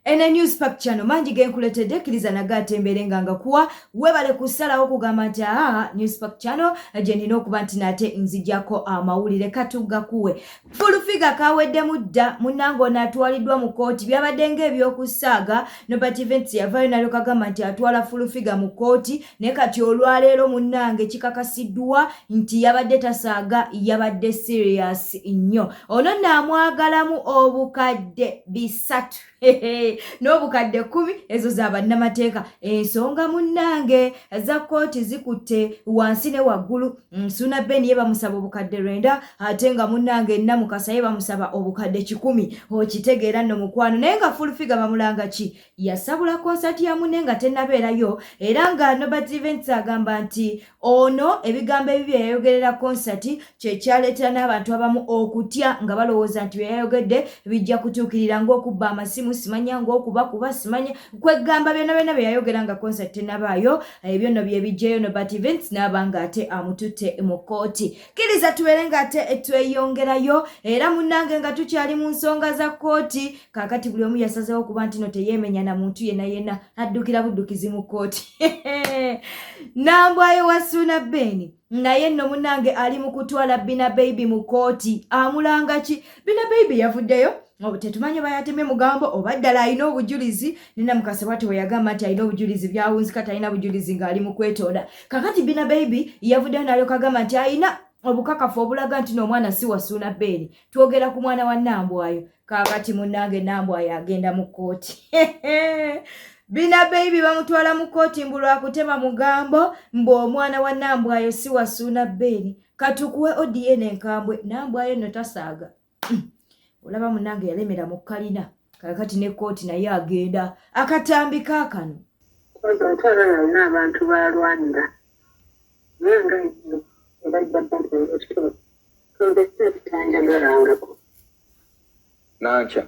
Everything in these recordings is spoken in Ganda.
ene news pack chano mangi genkuletedde kkiriza nago ate mbeere nga ngakuwa webale kusalawo kugamba nti aa news pack chano gye nina okuba nti naate nzijako amawulire katugakuwe fulufiga kaweddemu dda munange ono atwaliddwa mu kooti byabadde ngaebyokusaaga nobert events yavayo nalyo kagamba nti atwala fulufiga mu kooti ne kati olwaleero munnange kikakasiddwa nti yabadde tasaaga yabadde sirias nnyo ono naamwagalamu obukadde bisatu n'obukadde kkumi ezo za bannamateeka ensonga munnange za kkooti zikutte wansi ne waggulu nsuuna mm, ben ye bamusaba obukadde lwenda ate nga munnange namukasa ye bamusaba obukadde kikumi okitegeera nno mukwano naye nga fulfiga bamulanga ki yasabula konsati ya munne nga tennabeerayo era nga nobert events agamba nti ono ebigambo ebi bye yayogerera konsati kye kyaleetera n'abantu abamu okutya nga balowooza nti bye yayogedde bijja kutuukirira ng'okubba amasimu simanya ng'okuba kuba simanya kweggamba byonna byonna bye yayogera nga konsati tennabaayo ebyo nno bye bijjeyo nobert events n'aba nga ate amututte mu kkooti kkiriza tubeere nga ate tweyongerayo era munnange nga tukyali mu nsonga za kkooti kaakati buli omu yasazeewo okuba ntino teyeemenya na muntu yenna yenna addukira buddukizi mu kkooti nambwayo wa suuna beeni naye nno munnange ali mu kutwala bina beibi mu kkooti amulanga ki bina beibi yavuddeyo tetumanyi oba yatemye mugambo oba ddala alina obujulizi nina mukase bwati weyagamba nti alina obujulizi byawunzika talina bujulizi ng'ali mu kwetonda kakati bina baibi yavuddeyo nalyoka agamba nti alina obukakafu obulaga nti n'omwana si wasuuna beeri twogera ku mwana wa nambwayo kakati munnange nambwayo agenda mu kkooti bina baibi bamutwala mu kkooti mbu lwakutema mugambo mbu omwana wa nambwayo si wasuuna beeri katukuwe odiyene enkambwe nambwayo no tasaaga olaba munange yalemera mu kalina kakati ne kooti naye agenda akatambi kakano omukyala yalina abantu balwanira naye nga ebajja baekitoo tondese ekitanjagalangako nankya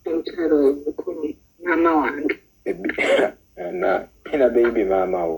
omukyala oyo mukulu maama wange ina beibi maama wo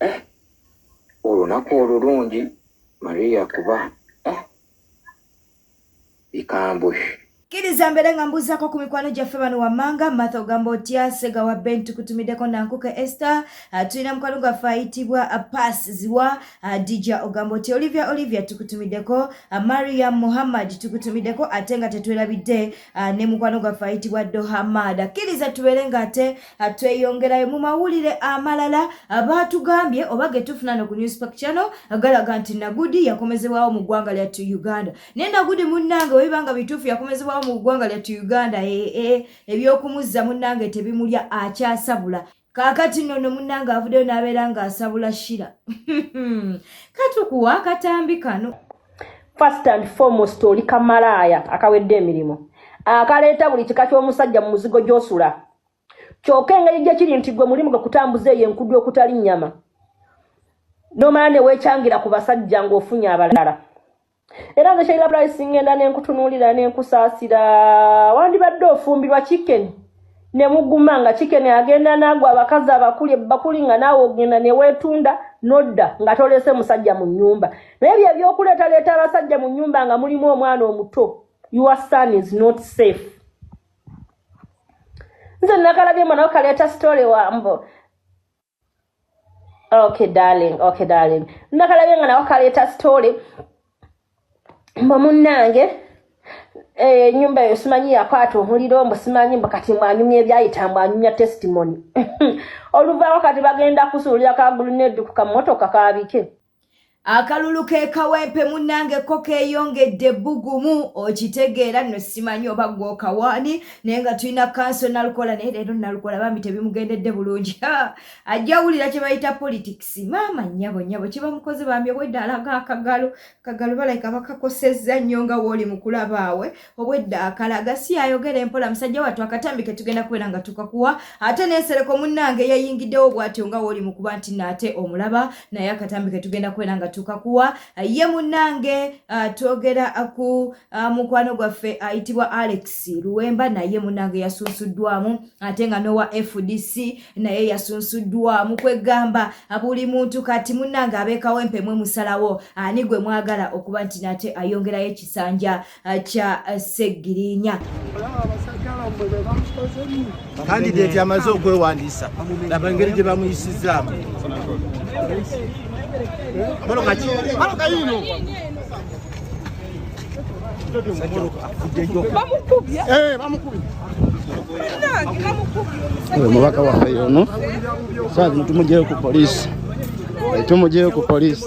eh, olunaku olulungi maria kuba eh, bikambwe kiriza mbeere nga mbuuzako ku mikwano gyaffe bano wammanga matha ogamba otya sega wa ben tukutumiddeko nankuka ester ah, tulina mukwano gwaffe ayitibwa ah, pass ziwa ah, dija ogamba otya olivia olivia tukutumiddeko mariam muhammad tukutumiddeko ate nga tetwerabidde Ah, ne mukwano gwaffe ayitibwa dohamad akkiriza tubeere nga ate ah, tweyongerayo mu mawulire amalala ah, baatugambye oba getufuna no ku newspak chano galaga nti nagudi yakomezebwawo mu ggwanga lya tu uganda naye nagudi munnange webiba nga bituufu yakomezebwawo mu ggwanga lya tu uganda ee eh, eh, ebyokumuzza munnange tebimulya akyasabula kaakati nno no munnange avuddeyo n'abeera ng'asabula shira katukuwa akatambi kano first and foremost oli kamalaaya akawedde emirimu akaleeta buli kika ky'omusajja mu muzigo gy'osula kyoka engeri gye kiri nti gwe mulimu gwe kutambuza eyo enkudu okutali nnyama nomala ne weecangira ku basajja ng'ofunye abalala era nze sheila price ngenda nenkutunuulira nenkusaasira wandibadde ofumbirwa chicken nemuguma nga chicken agenda naago abakazi abakuli ebakuli nga naawe ogenda newetunda nodda nga tolese musajja mu nyumba naye bye ebyokuleetaleeta abasajja mu nyumba nga mulimu omwana omuto your son is not safe nze nakalabye mwana okaleeta story wambo okay darling okay darling nakalabye nga nawe kaleeta story mbu munnange enyumba eh, eyo simanyi yakwata omuliro mbu simanyi mbu kati mwanyumya ebyayita mbu anyumya testimony oluvaako kati bagenda kusuulira kagulu nedukuka mumotoka kabike akalulu kekawempe munange ko keyongedde bugumu okitegeera nno simanyi oba gwokawaani naye nga tulina kanso nalukola naye leero nalukola bambi tebimugendedde bulungi ajja wulira kye bayita politics maama nyabo nyabo kye bamukoze bambi obwedda alaga akagalo kagalo balayika bakakosezza nnyo nga wooli mukulabaawe obwedda akala gasiya ayogera empola musajja wattu akatambi ke tugenda kubeera nga tukakuwa ate nensereko munnange yayingiddewo bwatyo nga wooli mu kuba nti naate omulaba naye akatambi ke tugenda kubeera nga tukakuwa ye munnange ah, twogera ku ah, mukwano gwaffe ayitibwa alex luwemba naye munnange yasunsuddwamu ate nga nowa fdc naye yasunsuddwamu kwegamba buli muntu kati munnange abeekawo empemwe musalawo ani gwe mwagala okuba nti naate ayongerayo ekisanja kya Ssegirinya. Kandideti amaze okwewandiisa laba engeri gye bamuyisizaamu omubaka waffe yono saazi mutumujeyo ku polisi tumujeyo ku polisi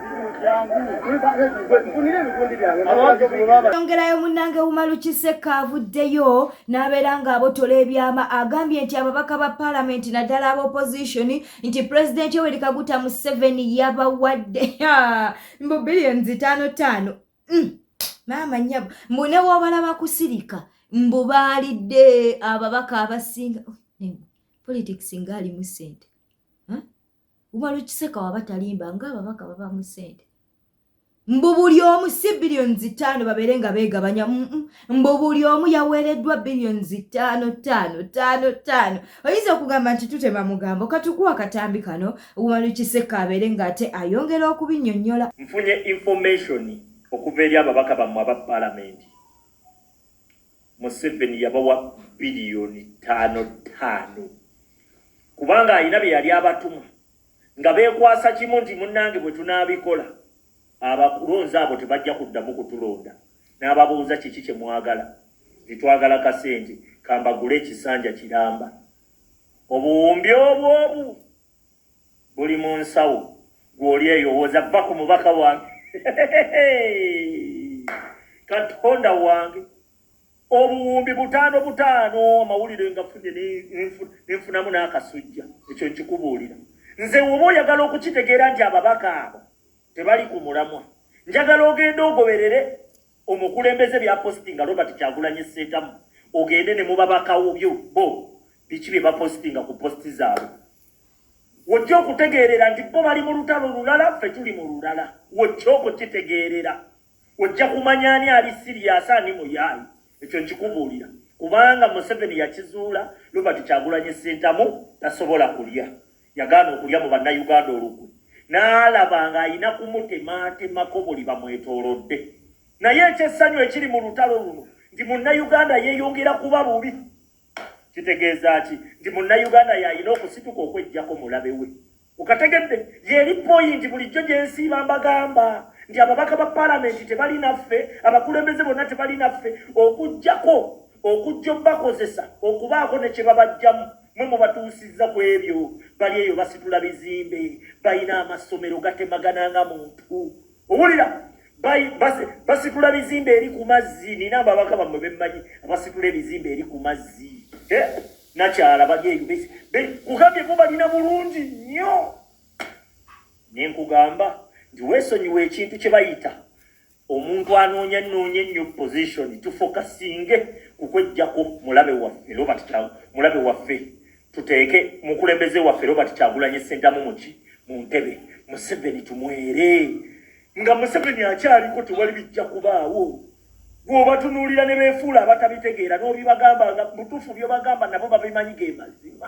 yongerayo munnange wumalu kisekka avuddeyo n'abeera ng'abotola ebyama agambye nti ababaka ba paalamenti naddala aba opozitioni nti pulezidenti oweri kaguta museveni yabawadde mbu billions taano taano mm, maama nyabo mbu ne wobalaba kusirika mbu baalidde ababaka abasinga oh, politics ngaalimu sente umala okiseka waba talimba nga ababaka babamu sente mbu buli omu si biliyoni zitaano babeere nga beegabanya mbu buli omu yaweereddwa biliyoni zitaano taano taano taano oyinza okugamba nti tutema mugambo katukuwa katambi kano umala okiseka abeere nga ate ayongera okubinyonyola nfunye information okuva eri ababaka bammwe aba palamenti museveni yabawa biliyoni taano taano kubanga alina bye yali abatuma nga beekwasa kimu nti munnange bwe tunaabikola abakulonzi abo tebajja kuddamu kutulonda n'ababuuza kiki kye mwagala titwagala kasente kambagula ekisanja kiramba obuwumbi obwobu buli mu nsawo gw'oli eyowooza vva ku mubaka wange katonda wange obuwumbi butaano butaano amawulire nga funye nenfunamu n'akasujja ekyo nkikubuulira nze woba oyagala okukitegeera nti ababaka abo tebali ku mulamwa njagala ogenda ogoberere omukulembeze bya postinga Robert Kyagulanyi Ssentamu ogende ne mubabakawo byo bo biki bye bapostinga ku posti zaabwe wojja okutegeerera nti bo bali mu lutalo lulala ffe tuli mu lulala wojja okukitegeerera ojja kumanya ani ali siriyasi ani muyaayi ekyo nkikubuulira kubanga museveni yakizuula Robert Kyagulanyi Ssentamu tasobola kulya Yagaana okulya mu Bannayuganda olukwe n'alaba ng'alina kumutematemako buli bamwetoolodde. Naye eky'essanyu ekiri mu lutalo luno nti Munnayuganda yeeyongera kuba bubi. Kitegeeza ki? Nti Munnayuganda y'alina okusituka okweggyako mulabe we. Okategedde? Y'eri poyinti bulijjo gye nsiiba mbagamba nti ababaka ba palamenti tebali naffe, abakulembeze bonna tebali naffe, okuggyako okujja obakozesa okubaako ne kye babajjamu. mwe mubatuusizza ku ebyo bali eyo basitula bizimbe balina amasomero gatemagana nga muntu owulira basitula bizimbe eri ku mazzi nina ababaka bamwe bemmanyi abasitula ebizimbe eri ku mazzi eh, nakyala bali eyo kugambye bo balina bulungi nnyo nenkugamba nti wesonyiwa ekintu kye bayita omuntu anoonya noonya ennyo position tufokasinge kukwejjako mulabe waffe robert kyagu mulabe waffe tuteeke mukulembeze waffe robert kyagulanye sentamu muki mu ntebe museveni tumwere nga museveni akyaliko tewali bijja kubaawo gwobatunuulira ne beefuula abatabitegeera n'obibagamba nga butuufu byobagamba nabo babimanyi ge mazima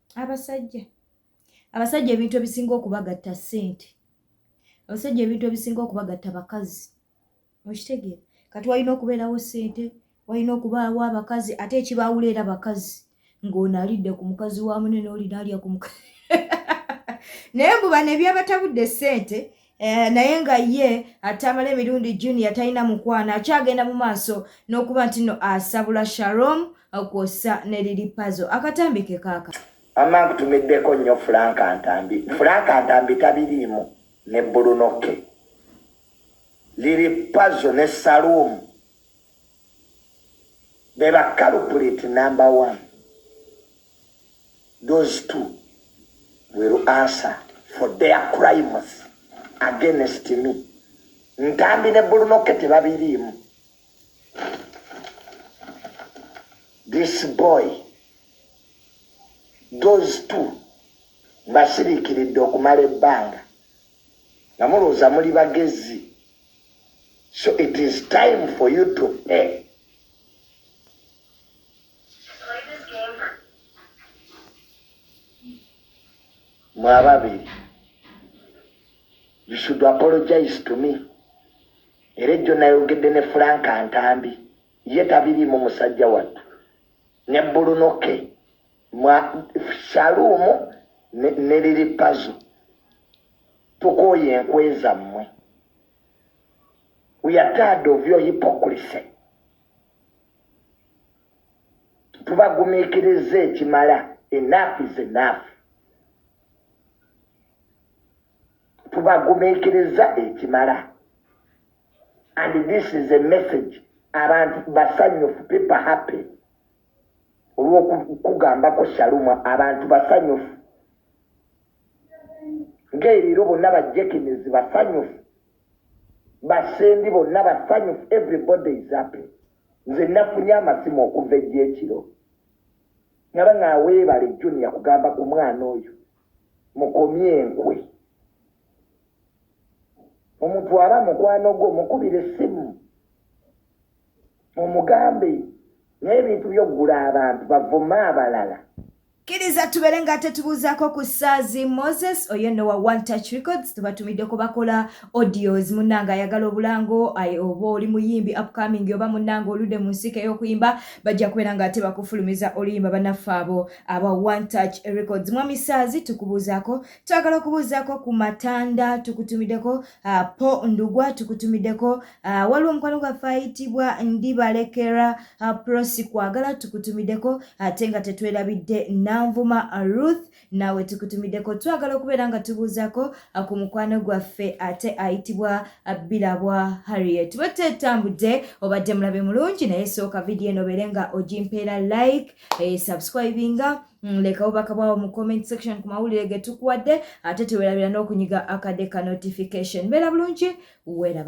abasajja abasajja ebintu ebisinga okubagatta ssente abasajja ebintu ebisinga okubagatta bakazi okitegeera kati walina okubeerawo ssente walina okubaawo abakazi ate ekibaawula era bakazi ng'ono alidde ku mukazi wa mune n'olina alya ku mukazi naye mbuba nebyabatabudde ssente Eh, naye nga ye atamala emirundi junior talina mukwano akyagenda mu maaso n'okuba nti no asabula sharom kwossa ne liri pazo akatambi ke kaaka ama nkutumiddeko nnyo fulanka ntambi fulanka ntambi tabiriimu ne bulunoke liri pazo ne salumu Be ba culprit number one. Those two will answer for their crimes against me. Ntambi ne bulunoke tebabiriimu. This boy, those two, mbasiriikiridde okumala ebbanga nga mulowooza muli bagezi. So it is time for you to pay. Mwababi, you should apologize to me. Era ejjo nayogedde ne Frank Ntambi ye tabiriimu musajja wattu ne bbulunoke mwa saluumu ne liri pazo Tukooye enkwe zammwe. We are tired of your hypocrisy. Tubagumiikiriza ekimala. Enough is enough. Tubagumiikiriza ekimala. And this is a message. Abantu basanyufu, people happy. Olw'okugambako Shaluma, abantu basanyufu. Gay leero bonna ba Jekines basanyufu, ba Sendi bonna basanyufu, everybody is happy. Nze nafunye amasimu okuva ejjo ekiro naba nga weebale Junior kugamba ku mwana oyo mukomye enkwe. Omuntu aba mukwano gwo mukubire essimu mumugambe naye ebintu by'okugula abantu bavuma abalala. Kiriza tubere nga tetubuuzaako ku Saazi Moses oyo no wa One Touch Records tubatumidde kubakola audios munnanga ayagala obulango oba oli muyimbi upcoming oba munnanga olude mu nsiika ey'okuyimba bajja kubeera nga ate bakufulumiza oluyimba banaffe abo aba One Touch Records mwami Saazi tukubuuzaako twagala okubuuzaako ku Matanda tukutumiddeko uh, Po Ndugwa tukutumiddeko Ah, waliwo omukwano gwaffe ayitibwa ndibalekera ah, prosi kwagala tukutumiddeko ate nga tetwerabidde nanvuma ruth nawe tukutumiddeko twagala okubeera nga tubuuzako ah, ku mukwano gwaffe ate ayitibwa birabwa harriet bwetetambudde obadde mulabe mulungi naye sooka vidiyo eno obeere nga ogimpeera like eh, subscribinga Mm, lekawo bakabwawo mu comment section ku mawulire ge tukuwadde ate tewerabira n'okunyiga akadde ka notification beera bulungi weeraba